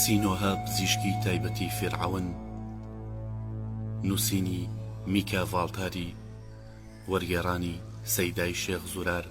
سینۆهە پزیشکی تایبەتی فیرعەون نووسینی میکا ڤاڵتاری وەرگێڕانی سەیدای شێخ زورار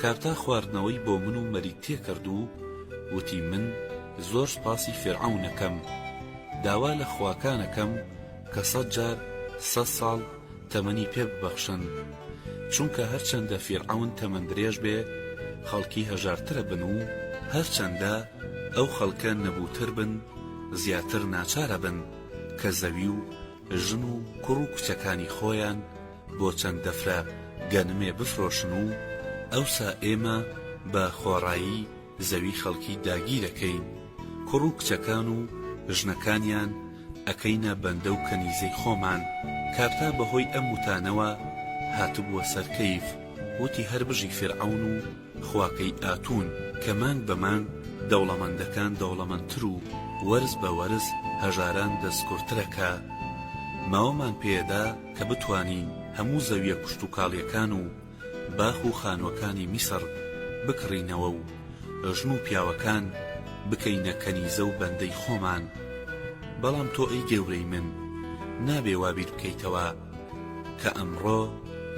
کارتا خواردنەوەی بۆ من و مەریک تێکرد و وتی من زۆر سوپاسی فیرعەون ئەکەم داوا لە خواکان ئەکەم کە سەد جار سەد ساڵ تەمەنی پێ ببەخشن چونکە هەرچەندە فیرعەون تەمەن درێژ بێ خەڵکی هەژارترە بن و هەرچەندە ئەو خەڵکە نەبووتر بن زیاتر ناچارە بن کە زەوی و ژن و کوڕ و کچەکانی خۆیان بۆ چەند دەفرە گەنمێ بفرۆشن و ئەوسا ئێمە بە خۆڕایی زەوی خەڵکی داگیر ئەکەین کوڕ و کچەکان و ژنەکانیان ئەکەینە بەندە و کەنیزەی خۆمان کارتا بەهۆی ئەم وتانەوە هاتبووە سەر کەیف وتی هەر بژی فیرعەون و خواکەی ئاتون کە مانگ بە مانگ دەوڵەمەندەکان دەوڵەمەندتر و وەرز بە وەرز هەژاران دەستکورترەکە ماوەمان پێدا کە بتوانین هەموو زەویە کشتوکاڵیەکان و باخ و خانوەکانی میسڕ بکڕینەوە و ژن و پیاوەکان بکەینە کەنیزە و بەندەی خۆمان بەڵام تۆ ئەی گەورەی من نابێ وا بیر بکەیتەوە کە ئەمڕۆ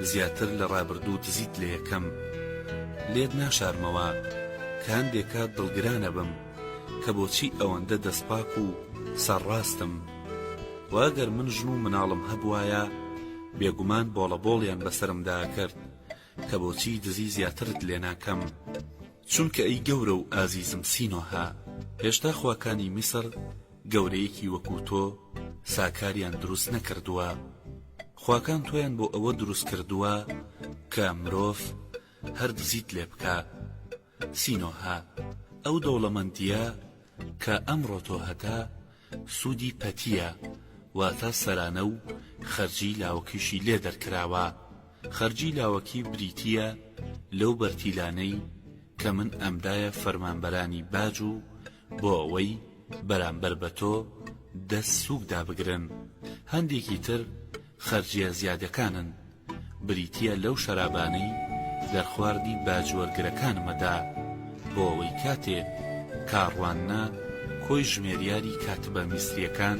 زیاتر لە ڕابردوو دزیت لە یەکەم لێت ناشارمەوە کە هەندێ کات دڵگران ئەبم کە بۆچی ئەوەندە دەست پاک و سەر ڕاستم وە ئەگەر من ژن و مناڵم هەبوایە بێگومان بۆڵە بۆڵیان بەسەرمدا ئەکرد کە بۆچی دزی زیاترت لێ ناکەم چونکە ئەی گەورە و ئازیزم سینۆهە هێشتا خواکانی میسر گەورەیەکی وەکو تۆ ساکاریان دروست نەکردووە خواکان تۆیان بۆ ئەوە دروست کردووە کە مرۆڤ هەر دزیت لێ بکە سینۆها ئەو دەوڵەمەندیە کە ئەمڕۆ تۆ هەتە سوودی پەتیە واتە سەرانە و خەرجی لاوەکیشی لێ دەرکراوە خەرجی لاوەکی بریتیە لەو بەرتیلانەی کە من ئەمدایە فەرمانبەرانی باج و بۆ ئەوەی بەرامبەر بە تۆ دەست سووک دابگرن هەندێکی تر خەرجیە زیادەکانن بریتیە لەو شەرابانەی دەرخواردی باجوەرگرەکانمەدا بۆ ئەوەی کاتێ کاڕواننە کۆی ژمێریاری کاتبە میسریەکان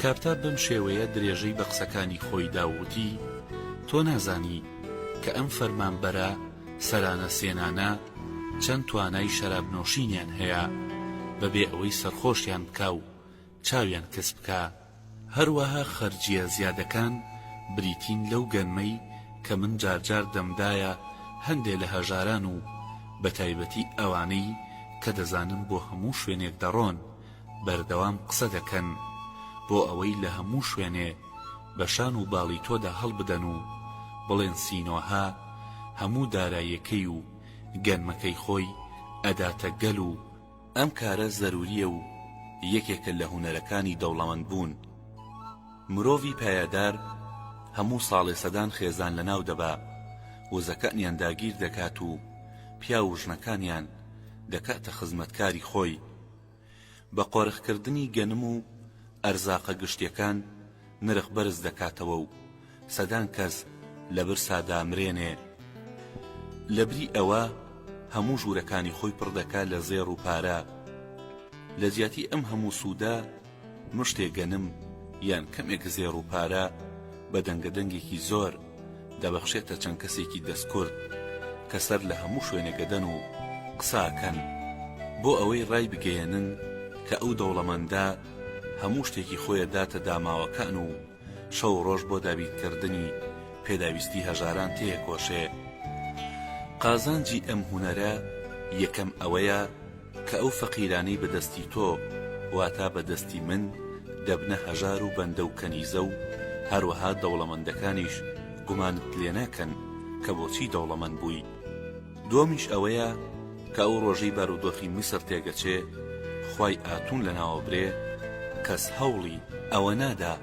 کاپتاب بەم شێوەیە درێژەی بە قسەکانی خۆی دا و وتی، تۆ نازانی کە ئەم فەرمانبەرە سەرانە سێنانە چەند توانای شەراب نۆشینیان هەیە بە بێ ئەوەی سەرخۆشیان بکا و چاویان کز بکا، هەروەها خەرجییە زیادەکان بریتین لەو گەنمەی کە من جارجار دەمدایە هەندێ لە هەژاران و بە تایبەتی ئەوانەی کە دەزانم بۆ هەموو شوێنێک دەڕۆن، بەردەوام قسە دەکەن بۆ ئەوەی لە هەموو شوێنێ بە شان و باڵی تۆدا هەڵبدەن و بڵێن سینۆهە هەموو دارایەکەی و گەنمەکەی خۆی ئەداتە گەل و ئەم کارە زەروریە و یەکێکە لە هونەرەکانی دەوڵەمەند بوون مرۆڤی پایەدار هەموو ساڵێ سەدان خێزان لە ناو دەبا وزەکەنیان داگیر دەکات و پیاو و ژنەکانیان دەکاتە خزمەتکاری خۆی. بە قۆرخکردنی گەنم و ئەرزاقە گشتیەکان نرخ بەرز دەکاتەوە و سەدان کەس لە برسا دامرێنێ لە بری ئەوە هەموو ژوورەکانی خۆی پڕ دەکا لە زێڕ و پارە لە جیاتی ئەم هەموو سوودە مشتێ گەنم یان کەمێک زێڕ و پارە بە دەنگە دەنگێکی زۆر دەبەخشێتە چەند کەسێکی دەستکورد کە سەر لە هەموو شوێنێگەدەن و قساکەن بۆ ئەوەی ڕای بگەیەنن کە ئەو دەوڵەمەندە هەموو شتێکی خۆیە داتە داماوەکان و شەو ڕۆژ بۆ دابین کردنی پێداویستی هەژاران تێەکۆشێ. قازانجی ئەم هونەرە یەکەم ئەوەیە کە ئەو فەقیرانەی بە دەستی تۆ واتا بە دەستی من دەبنە هەژار و بەندە و کەنیزە و هەروەها دەوڵەمەندەکانیش گومانت لێناکەن کە بۆچی دەوڵەمەند بووی. دووەمیش ئەوەیە کە ئەو ڕۆژەی بارودۆخی میسر تێگەچێ خوای ئاتون لەناوە برێ کەس هەوڵی ئەوە نادا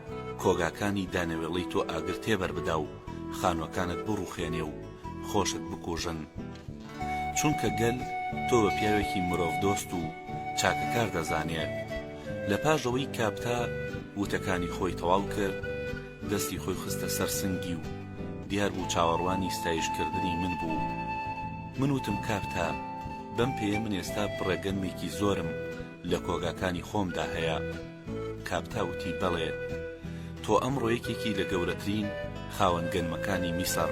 کۆگاکانی دانەوێڵەی تۆ ئاگر تێبەر بدا و خانوەکانت بڕوخێنێ و خۆشت بکوژن چونکە گەل تۆ بە پیاوێکی مرۆڤ دۆست و چاکەکار دەزانێ لە پاش ئەوەی کاپتا وتەکانی خۆی تەواو کرد دەستی خۆی خستە سەر سنگی و دیار بوو چاوەڕوانی ستایش کردنی من بوو من وتم کاپتا بەم پێیە من ئێستا بڕە گەنمێکی زۆرم لە کۆگاکانی خۆمدا هەیە کاپتا وتی بەڵێ تۆ ئەمڕۆ یەکێکی لە گەورەترین خاوەن گەنمەکانی میسڕ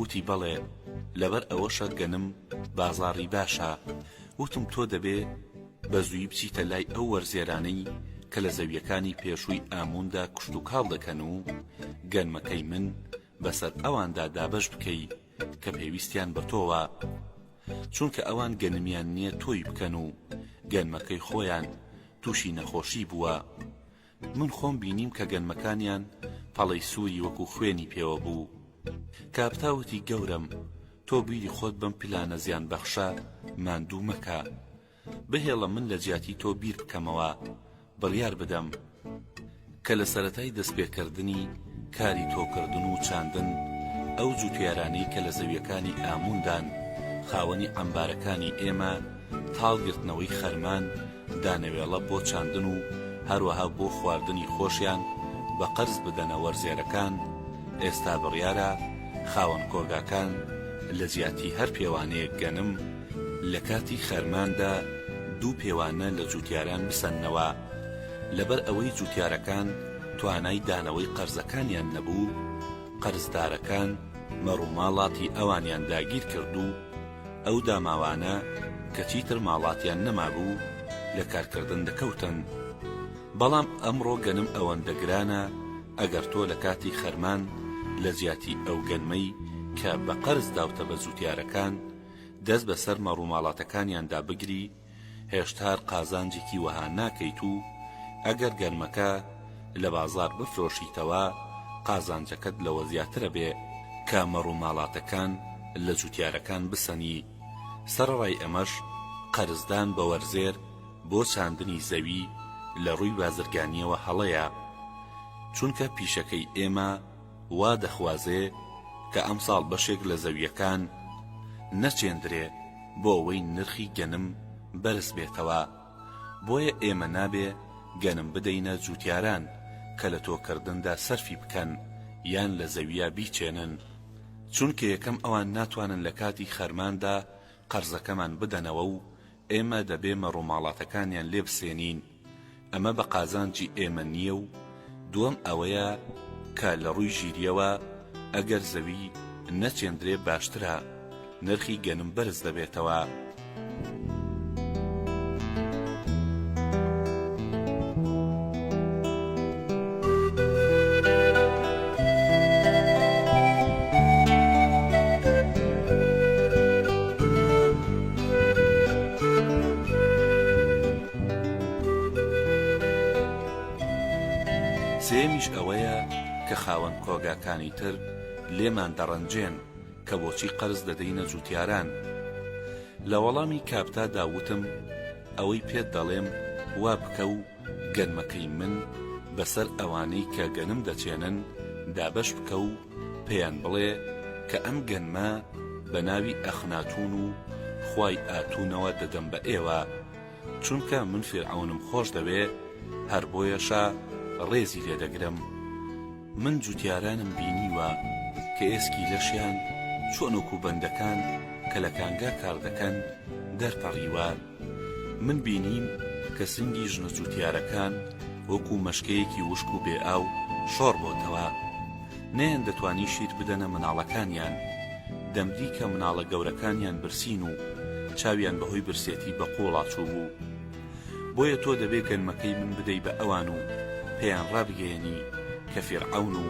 وتی بەڵێ لەبەر ئەوەشە گەنم بازاڕی باشە وتم تۆ دەبێ بە زووی بچیتە لای ئەو وەرزێرانەی کە لە زەویەکانی پێشووی ئامووندا کوشت و کاڵ دەکەن و گەنمەکەی من بەسەر ئەواندا دابەش بکەی کە پێویستیان بە تۆوە چونکە ئەوان گەنمیان نییە تۆی بکەن و گەنمەکەی خۆیان تووشی نەخۆشی بووە من خۆم بینیم کە گەنمەکانیان پەڵەی سووری وەکوو خوێنی پێوە بوو. کاپتا وتی گەورەم تۆ بیری خۆت بەم پلانە زیانبەخشە ماندوو مەکە. بهێڵە من لە جیاتی تۆ بیر بکەمەوە بڕیار بدەم. کە لە سەرەتای دەست پێ کردنی کاری تۆو کردن و چاندن ئەو جووتیارانەی کە لە زەویەکانی ئاموون دان خاوەنی عەمبارەکانی ئێمە تاڵ گرتنەوەی خەرمان، دانەوێڵە بۆ چاندن و هەروەها بۆ خواردنی خۆشیان بە قەرز بدەنە وەرزێرەکان، ئێستا بڕیارە خاوەن کۆگاکان لە جیاتی هەر پێوانەیەک گەنم، لە کاتی خەرماندا دوو پێوانە لە جووتیاران بسەننەوە، لەبەر ئەوەی جووتیارەکان توانای دانەوەی قەرزەکانیان نەبوو، قەرزدارەکان مەڕوماڵاتی ئەوانیان داگیر کرد و، ئەو داماوانە کە چیتر ماڵاتیان نەمابوو لە کارکردن دەکەوتن، بەڵام ئەمڕۆ گەنم ئەوەندە گرانە ئەگەر تۆ لە کاتی خەرمان لە جیاتی ئەو گەنمەی کە بە قەرز داوتە بە جوتیارەکان دەست بەسەر مەڕوماڵاتەکانیاندا بگری، هێشتار قازانجێکی وەها ناکەیت و ئەگەر گەنمەکە لە بازاڕ بفرۆشیتەوە قازانجەکەت لەوە زیاترەبێ کە مەڕوماڵاتەکان لە جوتیارەکان بسەنی، سەرەڕای ئەمەش قەرزدان بە وەرزێر بۆ چاندنی زەوی لە ڕووی بازرگانییەوە هەڵەیە، چونکە پیشەکەی ئێمە، وا دەخوازێ کە ئەمساڵ بەشێک لە زەوییەکان نەچێندرێ بۆ ئەوەی نرخی گەنم بەرز بێتەوە، بۆیە ئێمە نابێ گەنم بدەینە جووتیاران کە لە تۆکردندا سەرفی بکەن یان لە زەوییە بیچێنن، چونکە یەکەم ئەوان ناتوانن لە کاتی خەرماندا قەرزەکەمان بدەنەوە و ئێمە دەبێ مەڕوماڵاتەکانیان لێ بسێنین، ئەمە بە قازانجی ئێمە نییە و دووەم ئەوەیە کە لە ڕووی ژیرییەوە ئەگەر زەوی نەچێندرێ باشترە، نرخی گەنم بەرز دەبێتەوە. سێیەمیش ئەوەیە کە خاوەن کۆگاکانی تر لێمان دەڕەنجێن کە بۆچی قەرز دەدەینە جوتیاران؟ لە وەڵامی کاپتا دا وتم ئەوەی پێت دەڵێم وا بکە و گەنمەکەی من بەسەر ئەوانەی کە گەنم دەچێنن دابەش بکە و پێیان بڵێ کە ئەم گەنمە بە ناوی ئەخناتوون و خوای ئاتوونەوە دەدەم بە ئێوە، چونکە من فیرعەونم خۆش دەوێ، هەر بۆیەشە ڕێزی لێ دەگرم. من جووتیارانم بینیوە کە ئێسکی لەشیان چۆن وەکوو بەندەکان کە لە کانگا کار دەکەن دەرپەڕیوە، من بینیم کە سنگی ژنە جوتیارەکان وەکو مەشکەیەکی وشک و بێ ئاو شۆڕ بۆتەوە نەیان دەتوانی شیر بدەنە مناڵەکانیان دەمدی کە مناڵە گەورەکانیان برسین و چاویان بەهۆی برسێتی بە قوڵا چوبوو بۆیە تۆ دەبێ گەنمەکەی من بدەی بە ئەوان و پێیان ڕابگەیەنی کە فیرعەون و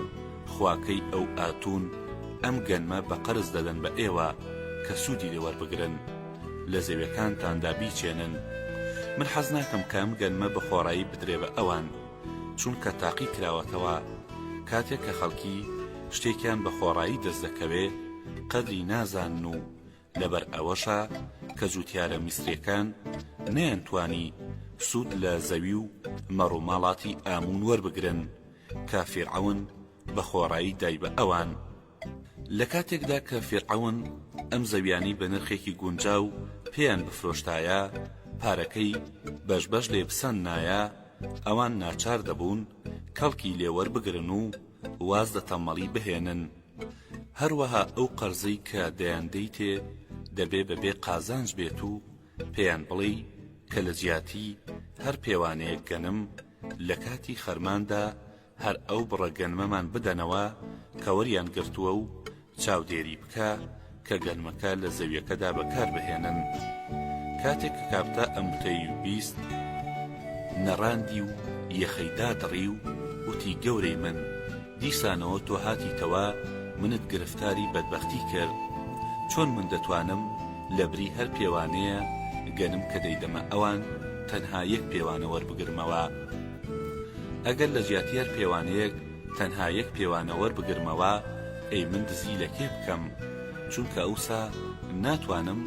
خواکەی ئەو ئاتون ئەم گەنمە بە قەرز دەدەن بە ئێوە کە سودی لێ وەربگرن. لە زەویەکانتاندا بیچێنن من حەز ناکەم کە ئەم گەنمە بە خۆڕایی بدرێ بە ئەوان چونکە تاقی کراوەتەوە کاتێک کە خەڵکی شتێکیان بە خۆڕایی دەست دەکەوێ قەدری نازانن و لەبەر ئەوەشە کە جوتیارە میسرەکان نیان توانی سوود لە زەوی و مەڕوماڵاتی ئامون وەربگرن کە فیرعەون بە خۆڕایی دای بە ئەوان لە کاتێکدا کە فیرعەون ئەم زەویانەی بە نرخێکی گونجاو پێیان بفرۆشتایە، پارەکەی بەش بەش لێ بسەندنایە، ئەوان ناچار دەبوون کەڵکی لێ وەربگرن و واز لە تەمەڵی بهێنن. هەروەها ئەو قەرزەی کە دەیاندەیتێ دەبێ بە بێ قازانج بێت و پێیان بڵێی کە لە جیاتی هەر پێوانەیەک گەنم لە کاتی خەرماندا هەر ئەو بڕە گەنمەمان بدەنەوە کە وەریان گرتووە و چاودێری بکە کە گەنمەکە لە زەویەکەدا بەکاربهێنن کاتێک کە کاپتا ئەم وتەی و بیست نەڕاندی و یەخەی دادڕی و وتی گەورەی من دیسانەوە تۆ هاتیتەوە منت گرفتاری بەدبەختی کرد چۆن من دەتوانم لە بری هەر پێوانەیە گەنم کە دەیدەمە ئەوان تەنها یەک پێوانە وەربگرمەوە؟ ئەگەر لە جیاتی هەر پێوانەیەک تەنها یەک پێوانە وەربگرمەوە ئەی من دزی لە کێ بکەم چونکە ئەوسا ناتوانم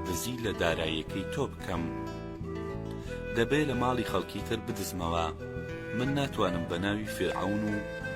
دزی لە دارایەکەی تۆ بکەم دەبێ لە ماڵی خەڵکی تر بدزمەوە من ناتوانم بە ناوی فیرعەون و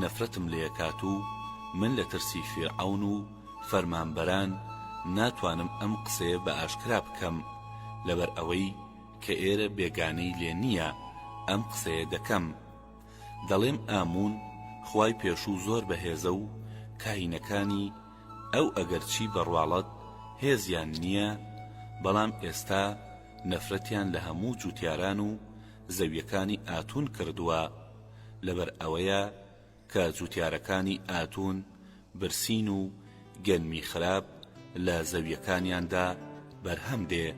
نەفرەتم لێکات و من لە ترسی فیرعەون و فەرمانبەران ناتوانم ئەم قسەیە بە ئاشکرا بکەم لەبەر ئەوەی کە ئێرە بێگانەی لێ نییە ئەم قسەیە دەکەم دەڵێم ئامون خوای پێشوو زۆر بەهێزە و کاهینەکانی ئەو ئەگەرچی بەڕواڵەت هێزیان نییە بەڵام ئێستا نەفرەتیان لە هەموو جووتیاران و زەویەکانی ئاتون کردووە لەبەر ئەوەیە کە جوتیارەکانی ئاتون برسین و گەنمی خراپ لە زەویەکانیاندا بەرهەم دێ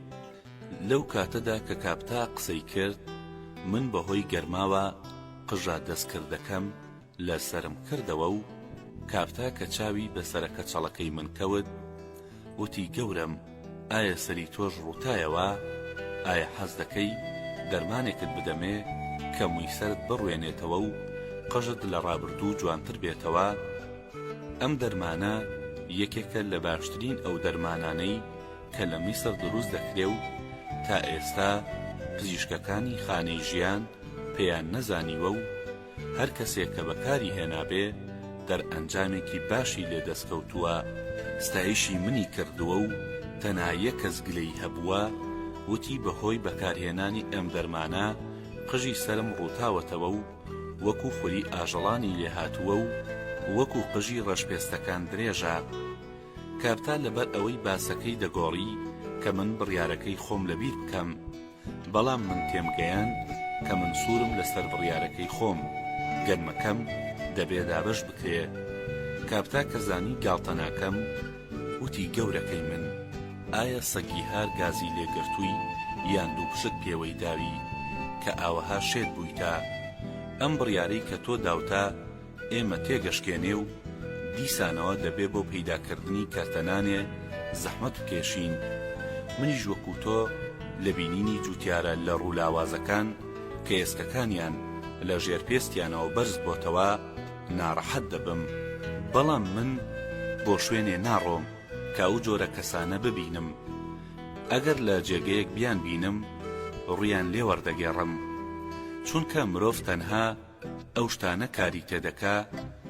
لەو کاتەدا کە کاپتا قسەی کرد من بەهۆی گەرماوە قژە دەستکردەکەم لە سەرم کردەوە و کاپتا کە چاوی بەسەرە کەچەڵەکەی من کەوت وتی، گەورەم ئایا سەری تۆش ڕووتایەوە؟ ئایا حەز دەکەی دەرمانێکت بدەمێ کە مووی سەرت بڕوێنێتەوە و قژت لە ڕابردوو جوانتر بێتەوە؟ ئەم دەرمانە یەکێکە لە باشترین ئەو دەرمانانەی کە لە میسر دروست دەکرێ و تا ئێستا پزیشکەکانی خانەی ژیان پێیان نەزانیوە و هەر کەسێک کە بەکاری هێنابێ دەرئەنجامێکی باشی لێ دەستکەوتووە، ستایشی منی کردووە و تەنها یەک کەس گلەیی هەبووە، وتی بەهۆی بەکارهێنانی ئەم دەرمانە قژی سەرم ڕووتاوەتەوە و وەکو خوری ئاژەڵانی لێ هاتووە و وەکو قژی ڕەشپێستەکان درێژە. کاپتا لەبەر ئەوەی باسەکەی دەگۆڕی کە من بڕیارەکەی خۆم لەبیر بکەم، بەڵام من تێمگەیاند کە من سوورم لەسەر بڕیارەکەی خۆم، گەنمەکەم دەبێ دابەش بکرێ. کاپتا کە زانی گاڵتە ناکەم، وتی گەورەکەی من، ئایا سەگی هار گازی لێ گرتووی یان دووپشک پێوەی داوی کە ئاوەها شێت بوویتە؟ ئەم بڕیارەی کە تۆ داوتە، ئێمە تێگەشکێنێ و دیسانەوە دەبێ بۆ پەیدا کردنی کەرتە نانێ زەحمەت بکێشین، منیش وەکوو تۆ لە بینینی جووتیارە لە ڕوو لاوازەکان کە ئێسکەکانیان لە ژێر پێستیانەوە بەرز بۆتەوە ناڕەحەت دەبم، بەڵام من بۆ شوێنێ ناڕۆم کە ئەو جۆرە کەسانە ببینم، ئەگەر لە جێگەیەک بیانبینم ڕوویان لێ وەردەگێڕم، چونکە مرۆڤ تەنها. ئەو شتانە کاری تێدەکا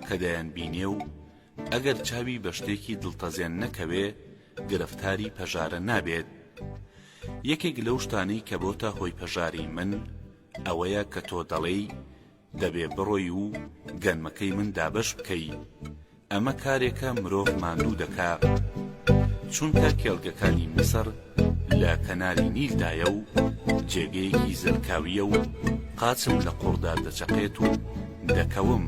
کە دەیانبینێ و ئەگەر چاوی بە شتێکی دڵتەزێن نەکەوێ گرفتاری پەژارە نابێت یەکێک لەو شتانەی کە بۆتە هۆی پەژاری من ئەوەیە کە تۆ دەڵێی دەبێ بڕۆی و گەنمەکەی من دابەش بکەی ئەمە کارێکە مرۆڤ ماندوو دەکا چونکە کێڵگەکانی میسر لە کەناری نیلدایە و جێگەیەکی زەلکاویە و قاچم لە قوڕدا دەچەقێت و دەکەوم.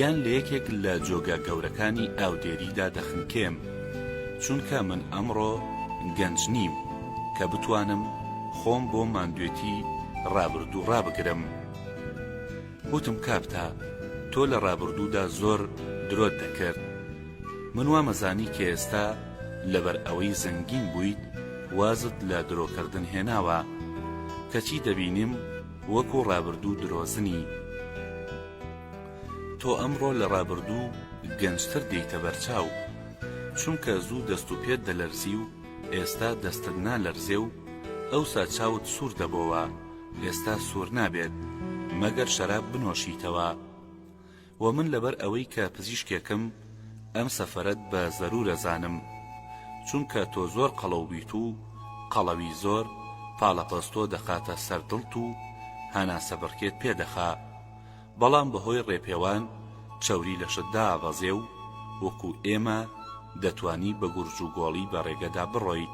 یان لە یەکێک لە جۆگە گەورەکانی ئاودێریدا دەخنکێم چونکە من ئەمڕۆ گەنج نیم کە بتوانم خۆم بۆ ماندوێتی ڕابردوو ڕابگرم. وتم کابتا تۆ لە ڕابوردودا زۆر درۆت دەکرد من وامەزانی کە ئێستا لەبەر ئەوەی زەنگین بویت وازت لە درۆکردن هێناوە کەچی دەبینیم وەکو ڕابردو درۆزنی تۆ ئەمڕۆ لە ڕابردو گەنجتر دێیتە بەرچاو چونکە زوو دەست و پێت دەلەرزی و ئێستا دەستت نالەرزێ و ئەوسا چاوت سور دەبۆوە ئێستا سوور نابێت مەگەر شەراب بنۆشیتەوە و من لەبەر ئەوەی کە پزیشکێکم ئەم سەفەرەت بە زەرورە زانم چونکە تۆ زۆر قەڵەو بیت و قەڵەوی زۆر پاڵەپەستۆ دەخاتە سەر دڵت و هەناسە بڕکێت پێ دەخا بەڵام بەهۆی ڕێپێوان چەوری لەشت دابەزێ و وەکو ئێمە دەتانی بە گورج و گۆڵی بە ڕێگەدا بڕۆیت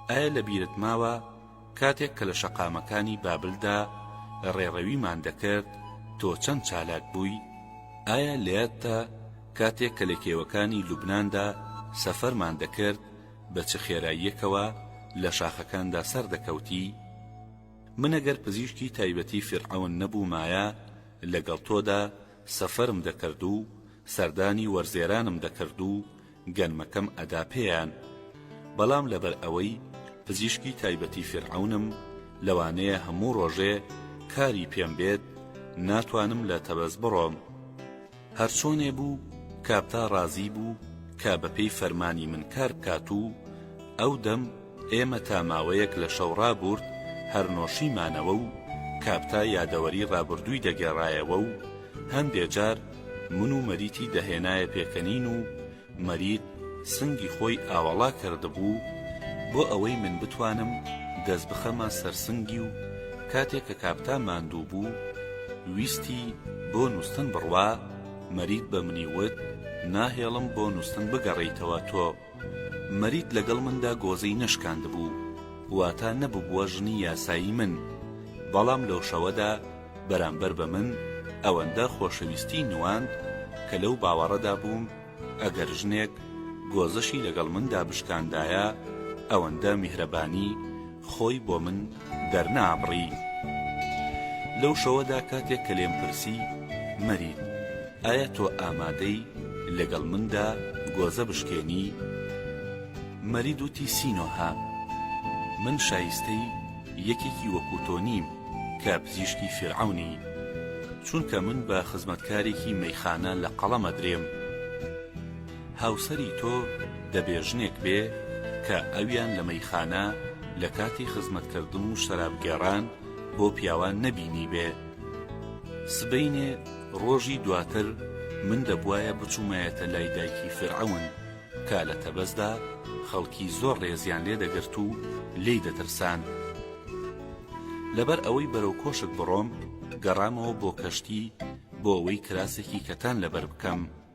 ئایا لە بیرت ماوە کاتێک کە لە شەقامەکانی بابلدا ڕێڕەویمان دەکرد، تۆ چەند چالاک بووی؟ ئایا لە یادتە کاتێک کە لە کێوەکانی لوبناندا سەفەرمان دەکرد، بە چ خێراییەکەوە لە شاخەکاندا سەردەکەوتی؟ من ئەگەر پزیشکی تایبەتی فیرعەون نەبوومایە، لەگەڵ تۆدا سەفەرم دەکرد و سەردانی وەرزێرانم دەکرد و گەنمەکەم ئەدا پێیان بەڵام لەبەر ئەوەی پزیشکی تایبەتی فیرعەونم لەوانەیە هەموو ڕۆژێ کاری پێم بێت ناتوانم لە تەبەز بڕۆم هەرچۆنێ بوو کاپتا ڕازی بوو کە بەپێی فەرمانی من کار بکات و ئەو دەم ئێمە تا ماوەیەک لە شەو ڕابورد هەر نۆشیمانەوە و کاپتا یادەوەری ڕابوردووی دەگێڕایەوە و هەندێ جار من و مەریتی دەهێنایە پێکەنین و مەریت سنگی خۆی ئاوەڵا کردبوو بۆ ئەوەی من بتوانم دەست بخەمە سەر سنگی و کاتێ کە کاپتا ماندوو بوو ویستی بۆ نووستن بڕوا مەریت بە منی وت ناهێڵم بۆ نووستن بگەڕێیتەوە تۆ مەریت لەگەڵ مندا گۆزەی نەشکاندبوو، واتا نەببووە ژنی یاسایی من، بەڵام لەو شەوەدا بەرامبەر بە من ئەوەندە خۆشەویستیی نواند کە لەو باوەڕەدا بووم ئەگەر ژنێک گۆزەشی لەگەڵ مندا بشکاندایە ئەوەندە میهرەبانی خۆی بۆ من دەرنابڕی. لەو شەوەدا کاتێک کە لێم پرسی، مەرید، ئایا تۆ ئامادەی لەگەڵ مندا گۆزە بشکێنی؟ مەرید وتی، سینۆها، من شایستەی یەکێکی وەکوو تۆ نیم کە پزیشکی فیرعەونی، چونکە من بە خزمەتکارێکی مەیخانە لە قەڵەم ئەدرێم. هاوسەری تۆ دەبێ ژنێک بێ کە ئەویان لە مەیخانە لە کاتی خزمەتکردن و شەراب گێڕان بۆ پیاوان نەبینیبێ. سبەینێ ڕۆژی دواتر من دەبوایە بچوومایەتە لای دایکی فیرعەون تا لە تەبەزدا خەڵکی زۆر ڕێزیان لێ دەگرت و لێی دەترساند. لەبەر ئەوەی بەرەو کۆشک بڕۆم گەڕامەوە بۆ کەشتی بۆ ئەوەی کراسێکی کەتان لەبەر بکەم.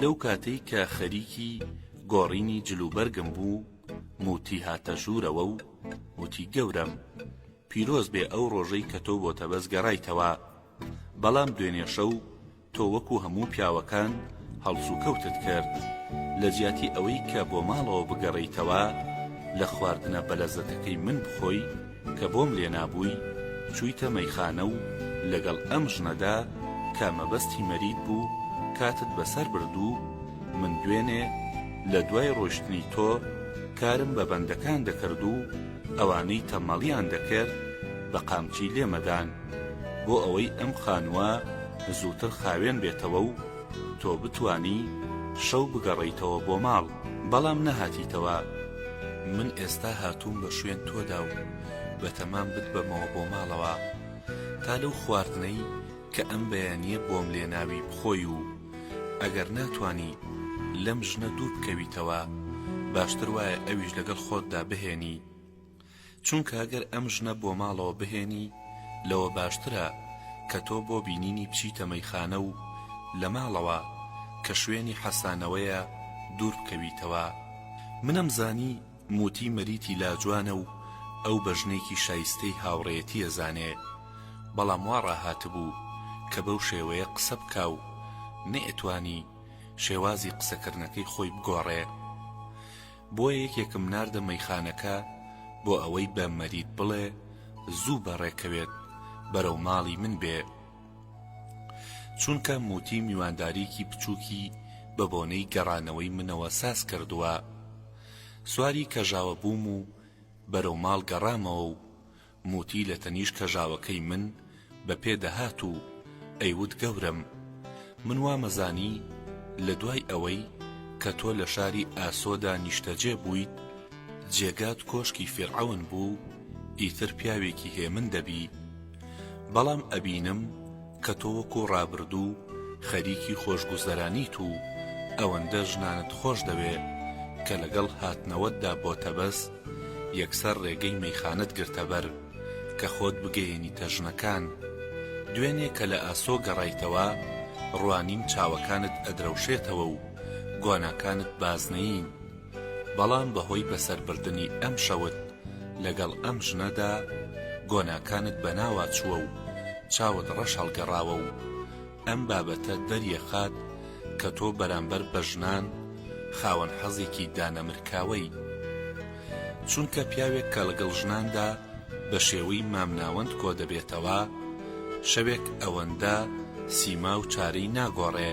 لەو کاتەی کە خەریکی گۆڕینی جلوبەرگم بوو موتی هاتە ژوورەوە و وتی گەورەم پیرۆز بێ ئەو ڕۆژەی کە تۆ بۆ تەبەز گەڕایتەوە بەڵام دوێنێ شەو تۆ وەکو هەموو پیاوەکان هەڵسوکەوتت کرد لە جیاتی ئەوەی کە بۆ ماڵەوە بگەڕیتەوە لە خواردنە بەلەزەتەکەی من بخۆی کە بۆم لێ نابووی چوویتە مەیخانە و لەگەڵ ئەم ژنەدا کە مەبەستی مەرید بوو کاتت بەسەر برد و من دوێنێ لە دوای ڕۆیشتنی تۆ کارم بە بەندەکان دەکرد و ئەوانەی تەمەڵیان دەکرد بە قامچی لێمەدان بۆ ئەوەی ئەم خانووە زووتر خاوێن بێتەوە و تۆ بتوانی شەو بگەڕێیتەوە بۆ ماڵ بەڵام نەهاتیتەوە من ئێستا هاتووم بە شوێن تۆدا و بەتەمام بتبەمەوە بۆ ماڵەوە تا لەو خواردنەی کە ئەم بەیانیە بۆم لێناوی بخۆی و ئەگەر ناتانی لەم ژنە دوور بکەویتەوە باشتر وایە ئەویش لەگەڵ خۆتدا بهێنی چونکە گەر ئەم ژنە بۆ ماڵەوە بهێنی لەوە باشترە کە تۆ بۆ بینینی بچیتە مەیخانە و لە ماڵەوە کە شوێنی حەسانەوەیە دوور بکەویتەوە منم زانی موتی مەریتی لاجوانە و ئەو بە ژنێکی شایستەی هاوڕێیەتی ئەزانێ بەڵام وا ڕاهاتبوو کە بەو شێوەیە قسە بکا و نەئەتوانی شێوازی قسەکردنەکەی خۆی بگۆڕێ بۆ یەکێکم ناردە مەیخانەکە بۆ ئەوەی بە مەرید بڵێ زوو بەڕێکەوێت بەرەو ماڵی من بێ چونکە موتی میوانداریکی بچوکی بە بۆنەی گەڕانەوەی منەوە ساز کردووە سواری کەژاوە بووم و بەرەو ماڵ گەڕامەوە و موتی لە تەنیشت کەژاوەکەی من بە پێ دەهات و ئەیوت گەورەم من وامەزانی لە دوای ئەوەی کە تۆ لە شاری ئاسۆدا نیشتەجێ بوویت جێگات کۆشکی فیرعەون بوو ئیتر پیاوێکی هێمن دەبی بەڵام ئەبینم کە تۆ وەکو ڕابردوو خەریکی خۆشگوزەرانیت و ئەوەندە ژنانت خۆش دەوێ کە لەگەڵ هاتنەوەتدا بۆ تەبەس یەکسەر ڕێگەی مەیخانەت گرتە بەر کە خۆت بگەیەنیتە ژنەکان دوێنێ کە لە ئاسۆ گەڕایتەوە ڕوانیم چاوەکانت ئەدرەوشێتەوە و گۆناکانت بازنەیین بەڵام بەهۆی بەسەربردنی ئەم شەوت لەگەڵ ئەم ژنەدا گۆناکانت بەناوا چووە و چاوت ڕەش هەڵگەڕاوە و ئەم بابەتە دەریەخات کە تۆ بەرامبەر بە ژنان خاوەن حەزێکی دانەمرکاوەی چونکە پیاوێک کە ڵەگەڵ ژناندا بەشێوەی مامناوەند کۆدەبێتەوە شەوێک ئەوەندە سیما و چارەی ناگۆڕێ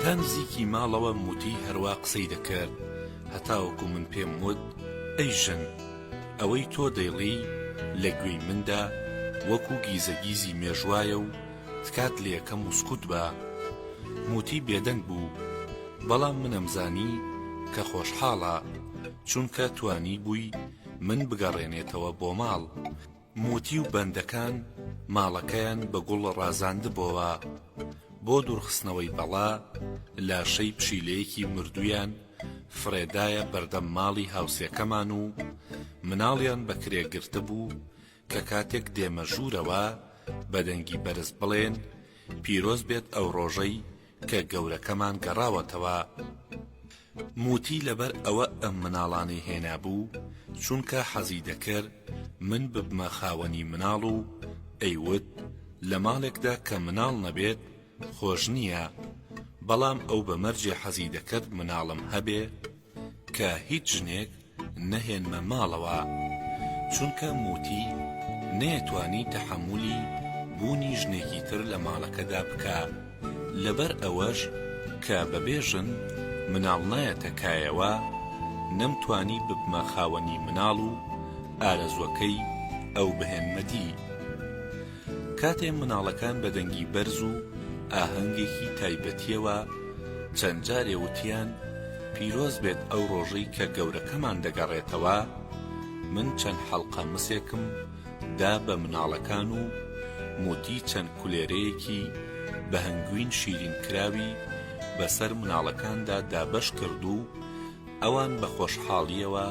تا نزیکی ماڵەوەم وتی هەروا قسەی دەکرد هەتاوەکو من پێم وت ئەی ژن ئەوەی تۆ دەیڵێی لە گوێی مندا وەکو گیزەگیزی مێژوایە و تکات لێەکەم و سکوت بە موتی بێدەنگ بوو بەڵام منم زانی کە خۆشحاڵە چونکە توانی بووی من بگەڕێنێتەوە بۆ ماڵ موتی و بەندەکان ماڵەکەیان بە گوڵ ڕازاندبۆوە بۆ دورخستنەوەی بەڵا لاشەی پشیلەیەکی مردویان فرێدایە بەردەم ماڵی هاوسێکەمان و مناڵیان بە کرێ گرتبو کە کاتێک دێمە ژورەوە بە دەنگی بەرز بڵێن پیرۆز بێت ئەو ڕۆژەی کە گەورەکەمان گەڕاوەتەوە موتی لەبەر ئەوە ئەم مناڵانەی هێنابوو چونکە حەزی دەکرد من ببمە خاوەنی مناڵ و ئەیوت لە ماڵێکدا کە مناڵ نەبێت خۆش نییە بەڵام ئەو بە مەرجێ حەزی دەکرد مناڵم هەبێ کە هیچ ژنێک نەهێنمە ماڵەوە چونکە موتی نەیەتوانی تەحەمولی بوونی ژنێکی تر لە ماڵەکەدا بکا لەبەر ئەوەش کە بەبێ ژن مناڵ نایەتە کایەوە نەمتوانی ببمە خاوەنی مناڵ و ئارەزوەکەی ئەو بهێنمە دی کاتێ مناڵەکان بە دەنگی بەرز و ئاهەنگێکی تایبەتیەوە چەند جارێ وتیان پیرۆز بێت ئەو ڕۆژەی کە گەورەکەمان دەگەڕێتەوە، من چەند حەڵقە مسێکم دا بە مناڵەکان و موتی چەند کولێرەیەکی بە هەنگوین شیرین کراوی بە سەر مناڵەکاندا دابەش کرد و ئەوان بە خۆشحاڵیەوە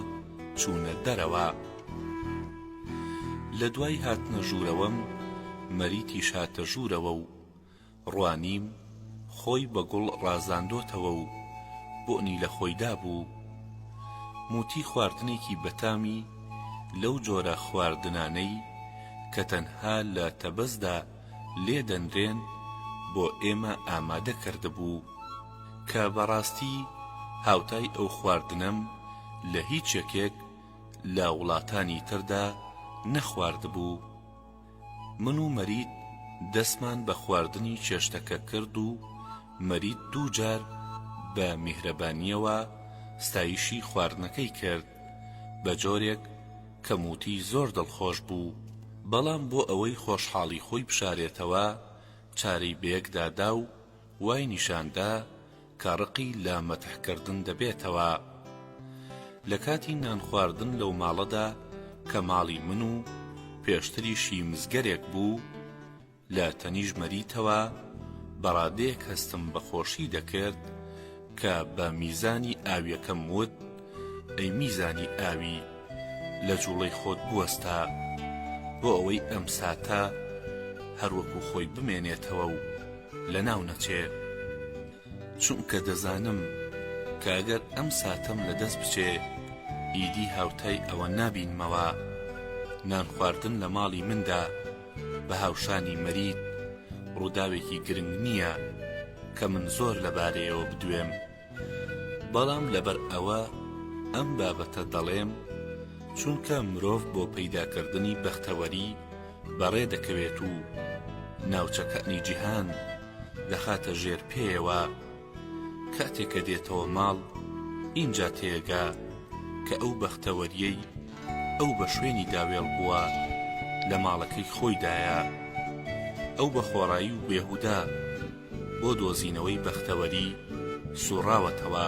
چوونە دەرەوە. لە دوای هاتنە ژوورەوەم مەریتیش هاتە ژوورەوە و ڕوانیم خۆی بە گوڵ ڕازاندۆتەوە و بۆنی لە خۆی دابوو موتی خواردنێکی بەتامی لەو جۆرە خواردنانەی کە تەنها لە تەبەزدا لێ دەنرێن بۆ ئێمە ئامادە کردبوو کە بەڕاستی هاوتای ئەو خواردنەم لە هیچ یەکێک لە وڵاتانی تردا نەخواردبوو من و مەرید دەستمان بە خواردنی چێشتەکە کرد و مەرید دوو جار بە میهرەبانیەوە ستایشی خواردنەکەی کرد بە جۆرێک کە موتی زۆر دڵخۆش بوو بەڵام بۆ ئەوەی خۆشحاڵی خۆی بشارێتەوە چارەی بەیەکدا دا و وای نیشان دا کە ڕقی لە مەتح کردن دەبێتەوە لە کاتی نان خواردن لەو ماڵەدا کە ماڵی من و پێشتریشی مزگەرێک بوو لە تەنیشت مەریتەوە بە ڕادەیەک هەستم بە خۆشی دەکرد کە بە میزانی ئاویەکەم وت، ئەی میزانی ئاوی، لە جوڵەی خۆت بوەستە، بۆ ئەوەی ئەم ساتە هەر وەکو خۆی بمێنێتەوە و لەناو نەچێ، چونکە دەزانم کە ئەگەر ئەم ساتەم لە دەست بچێ، ئیدی هاوتای ئەوە نابینمەوە، نان خواردن لە ماڵی مندا، بە هاوشانی مەریت ڕووداوێکی گرنگ نییە کە من زۆر لەبارەیەوە بدوێم بەڵام لەبەر ئەوە ئەم بابەتە دەڵێم چونکە مرۆڤ بۆ پەیداکردنی بەختەوەری بەڕێ دەکەوێت و ناوچەکانی جیهان دەخاتە ژێر پێیەوە کاتێ کە دێتەوە ماڵ ئینجا تێگا کە ئەو بەختەوەریەی ئەو بە شوێنی دا وێڵ بووە لە ماڵەکەی خۆی دایە ئەو بە خۆڕایی و بێهودا بۆ دۆزینەوەی بەختەوەری سوڕاوەتەوە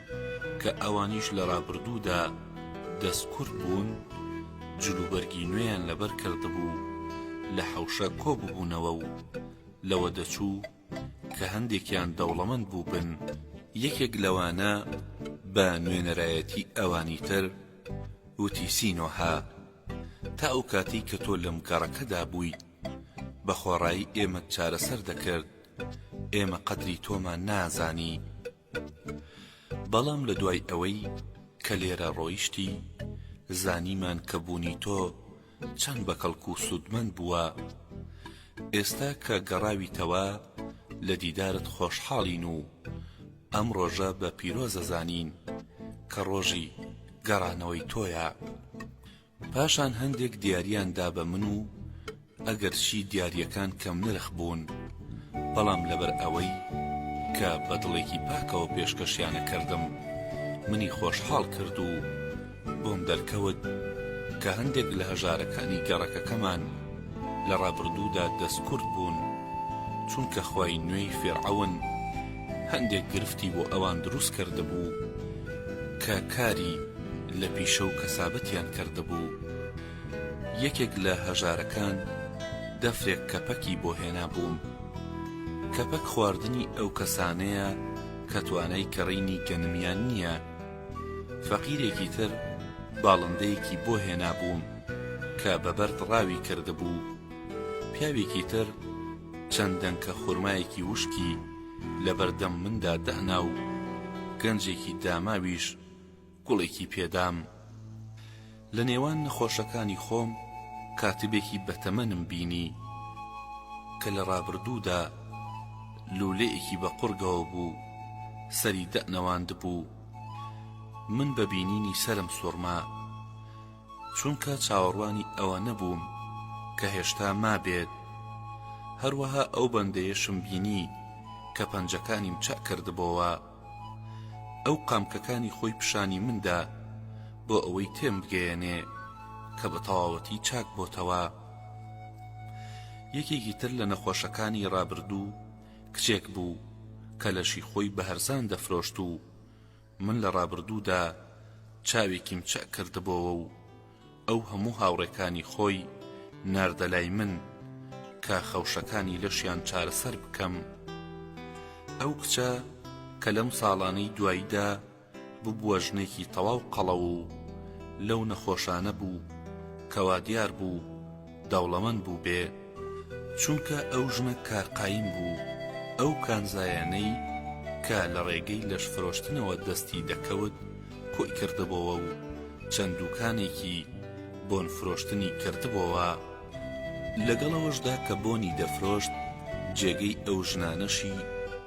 کە ئەوانیش لە ڕابردوودا دەستکورد بوون، جلوبەرگی نوێیان لەبەر کردبوو، لە حەوشە کۆ ببوونەوە و لەوە دەچوو کە هەندێکیان دەوڵەمەند بووبن، یەکێک لەوانە بە نوێنەرایەتی ئەوانی تر وتی سینۆهە، تا ئەو کاتەی کە تۆ لەم گەڕەکەدا بوویت، بە خۆڕایی ئێمەت چارەسەر دەکرد، ئێمە قەدری تۆمان نازانی. بەڵام لە دوای ئەوەی کە لێرە ڕۆیشتی زانیمان کە بوونی تۆ چەند بە کەڵک و سوودمەند بووە ئێستا کە گەڕاویتەوە لە دیدارت خۆشحاڵین و ئەم ڕۆژە بە پیرۆزە زانین کە ڕۆژی گەڕانەوەی تۆیە پاشان هەندێک دیاریان دا بە من و ئەگەر چی دیاریەکان کەم نرخ بوون بەڵام لەبەر ئەوەی کە بە دڵێکی پاکەوە پێشکەشیانە کردم منی خۆشحاڵ کرد و بۆم دەرکەوت کە هەندێک لە هەژارەکانی گەڕەکەکەمان لە ڕابردوودا دەستکورد بوون چونکە خوای نوێی فیرعەون هەندێک گرفتی بۆ ئەوان دروست کردبوو کە کاری لە پیشەو کەسابەتیان کردبوو یەکێک لە هەژارەکان دەفرێک کەپەکی بۆ هێنابووم کەپەک خواردنی ئەوکەسانەیە کە توانای کڕینی گەنمیان نیە فەقیرێکی تر باڵندەیەکی بۆ هێنابووم کە بە بەرد ڕاوی کردبوو پیاوێکی تر چەند دەنکە خورمایەکی وشکی لەبەردەم مندا داناو گەنجێکی داماویش گوڵێکی پێدام لە نێوان نەخۆشەکانی خۆم کاتبێکی بەتەمەنم بینی کە لە ڕابردوودا لولەیەکی بە قوڕگەوە بوو سەری دەنەواند بوو من بە بینینی سرم سوڕما چونکە چاوەڕوانی ئەوە نەبووم کە هێشتا مابێت هەروەها ئەو بەندەیەشم بینی کە پەنجەکانیم چەکردبەوە ئەو قامکەکانی خۆی پیشانی من دا بۆ ئەوەی تێم بگەیەنێ کە بە تەواوەتی چاک بۆتەوە. یەکێکی تر لە نەخۆشەکانی ڕابردوو کچێک بوو کە لەشی خۆی بە هەرزان دەفرۆشت و من لە ڕابردوودا چاوێکیم چەک کردبۆوە و ئەو هەموو هاوڕێکانی خۆی ناردە لای من کە خەوشەکانی لەشیان چارەسەر بکەم ئەو کچە کە لەم ساڵانەی دواییدا ببووە ژنێکی تەواو قەڵەو و لەو نەخۆشانە بوو کەوا دیار بوو دەوڵەمەند بوو بێ چونکە ئەو ژنە کار قایم بوو ئەو کانزایانەی کە لە ڕێگەی لەش فرۆشتنەوە دەستی دەکەوت کۆی کردبۆوە و چەند دوکانێکی بۆن فرۆشتنی کردبۆوە لەگەڵ ئەوەشدا کە بۆنی دەفرۆشت جێگەی ئەو ژنانەشی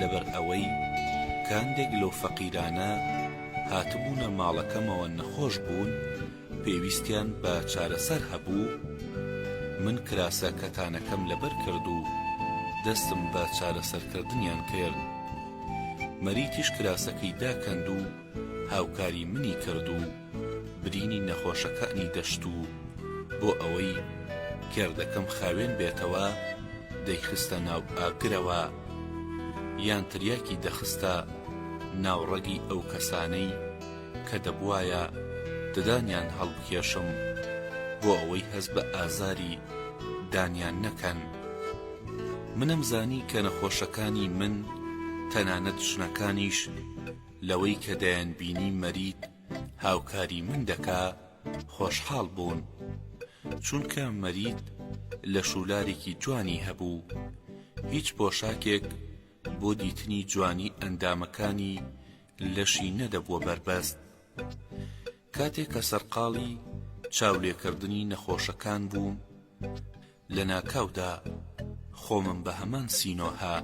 لەبەر ئەوەی کاندێک لەو فەقیرانە هاتبوونە ماڵەکەمەوە نەخۆش بوون پێویستیان بە چارەسەر هەبوو، من کراسە کەتانەکەم لەبەر کرد و دەستم بە چارەسەرکردنیان کرد. مەریتیش کراسەکەی داکەند و. هاوکاری منی کرد و برینی نەخۆشەکانی دەشت و بۆ ئەوەی گردەکەم خاوێن بێتەوە دەیخستە ناو ئاگرەوە یان تریاکی دەخستە ناو ڕەگی ئەو کەسانەی کە دەبوایە ددانیان هەڵبکێشم بۆ ئەوەی هەست بە ئازاری دانیان نەکەن منم زانی کە نەخۆشەکانی من تەنانەت ژنەکانیش لەوەی کە دەیانبینی مەرید هاوکاری من دەکا خۆشحاڵ بوون چونکە مەرید لە شوولارێکی جوانی هەبوو هیچ پۆشاکێک بۆ دیتنی جوانی ئەندامەکانی لەشی نەدەبووە بەربەست کاتێک کە سەرقاڵی چاولێکردنی نەخۆشەکان بووم لەناکاودا خۆمم بە هەمان سینۆهە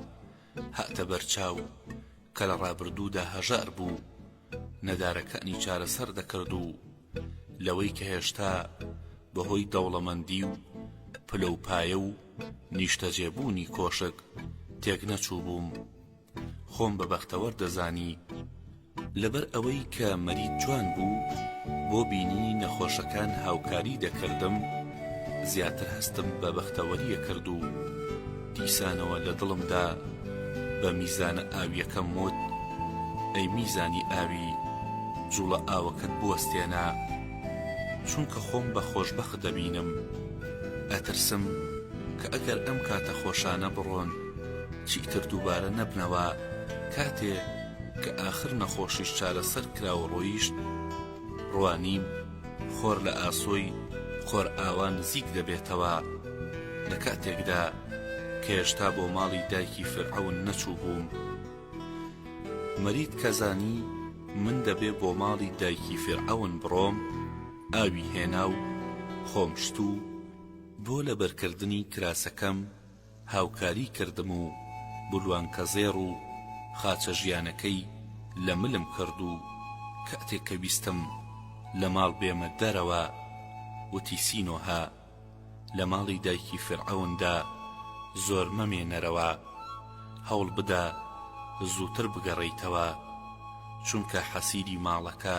هاتە بەرچاو کە لە ڕابردوودا هەژار بوو، نەدارەکانی چارەسەر دەکرد و لەوەی کە هێشتا بەهۆی دەوڵەمەندی و پلە و پایە و نیشتەجێبوونی کۆشک تێکنەچووبووم، خۆم بە بەختەوەر دەزانی لەبەر ئەوەی کە مەرید جوان بوو بۆ بینینی نەخۆشەکان هاوکاری دەکردم زیاتر هەستم بە بەختەوەری ئەکرد و دیسانەوە لە دڵمدا بە میزانە ئاویەکەم وت ئەی میزانی ئاوی جوڵە ئاوەکەت بوەستێنە چونکە خۆم بە خۆشبەخت دەبینم ئەترسم کە ئەگەر ئەم کاتە خۆشانە بڕۆن چیتر دووبارە نەبنەوە کاتێ کە ئاخر نەخۆشیش چارەسەر کرا و ڕۆیشت ڕوانیم خۆر لە ئاسۆی خۆرئاوا نزیک دەبێتەوە لە کاتێکدا کە هێشتا بۆ ماڵی دایکی فیرعەون نەچوو بووم مەرید کە زانی من دەبێ بۆ ماڵی دایکی فیرعەون بڕۆم ئاوی هێنا و خۆم شت و بۆ لەبەرکردنی کراسەکەم هاوکاری کردم و بلوانکەزێڕ و خاچە ژیانەکەی لە ملم کرد و کاتێک کە ویستم لە ماڵ بێمە دەرەوە وتی سینۆهە لە ماڵی دایکی فیرعەوندا زۆر مەمێنەرەوە هەوڵبدە زووتر بگەڕێیتەوە چونکە حەسیری ماڵەکە